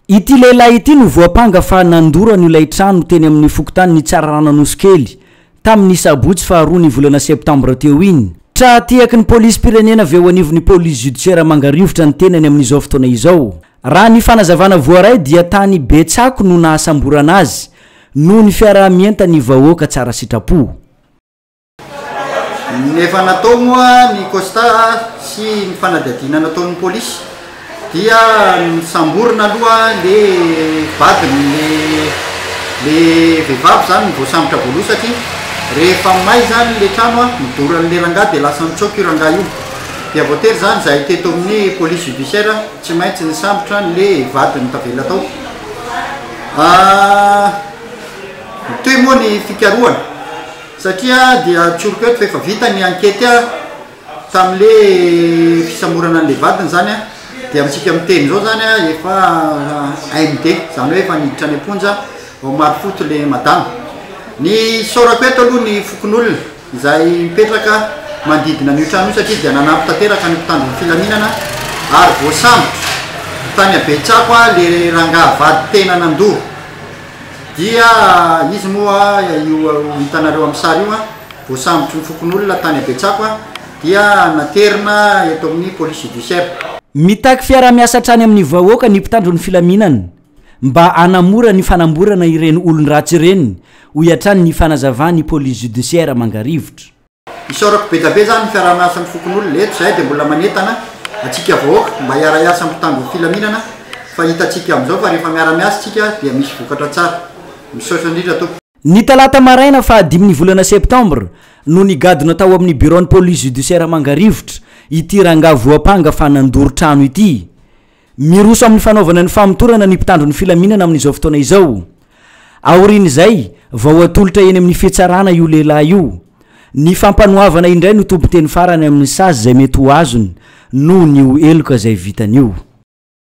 Ity lehilahy ity no voampanga fa nandoro an'io ilay trano teny amin'ny fokontanin'i Tsararano Anosikely, tamin'ny sabotsy faharoa ny volana septambra teo iny. Tra-tehaky ny polisim-pirenena avy eo anivon'ny police judiciaire Mangarivotra ny tenany amin'izao fotoana izao. Raha ny fanazavana voaray dia tany Betsako no nahasamborana azy, noho ny fiaraha-mientan'ny vahoaka tsara sitrapo. Ny efa natao moa ny costat sy ny fanadihadiana nataon'ny polisy dia nisamborina aloha le vadiny le le vehivavy zany ny voasambotra voaloha satria rehefa may zany le trano a midora an'le rangahy dia lasa nitsoaka io rangahy io dia voatery zany zahay teto amin'ny police judiciaire tsy maintsy nisambotra an'le vadiny tavela tao mitohy moa ny fikarohana. Satria dia tsoriko eto fa efa vita ny ankety tamin'le fisamorana an'le vadiny zany dia amintsika miteny zao zany efa AMD zany hoe efa niditra any am-ponja vao marim-poto le madama. Ny isaorako eto aloha ny fokonolona izay mipetraka manodidina an'io trano io satria dia nanampy tanteraka ny mpitandro ny filaminana ary voasambotra tany Abetsako le rangahy vady tena nandoa. Dia izy moa io hitanareo amin'ny sary io, voasambotry ny fokonolona tany Betsako dia naterina eto amin'ny police judiciaire. Mitaky fiaraha-miasa hatrany amin'ny vahoaka ny mpitandro ny filaminana mba hanamora ny fanamborana ireny olon-dratsy ireny, hoy hatrany ny fanazavan'ny police judiciaire Mangarivotra. Isaorako be dia be zany ny fiaraha-miasan'ny fokonolona, eto izahay dia mbola manentana antsika vahoaka mba hiara-hiasa amin'ny mpitandro ny filaminana fa hitantsika amin'izao fa rehefa miara-miasa isika dia misy vokatra tsara. Misaotra indrindra tompoko. Ny talata maraina faha dimy ny volana septambra no nigadona tao amin'ny biraon'ny police judiciaire Mangarivotra ity rangahy voampanga fa nandoro trano ity. Miroso amin'ny fanaovana ny famotorana ny mpitandro ny filaminana amin'izao fotoana izao. Aorian'izay, vao hatolotra eny amin'ny fitsarana io lehilahy io. Ny fampanoavana indray no tompon-teny farany amin'ny sazy izay mety ho azony noho ny ho heloka izay vitany io.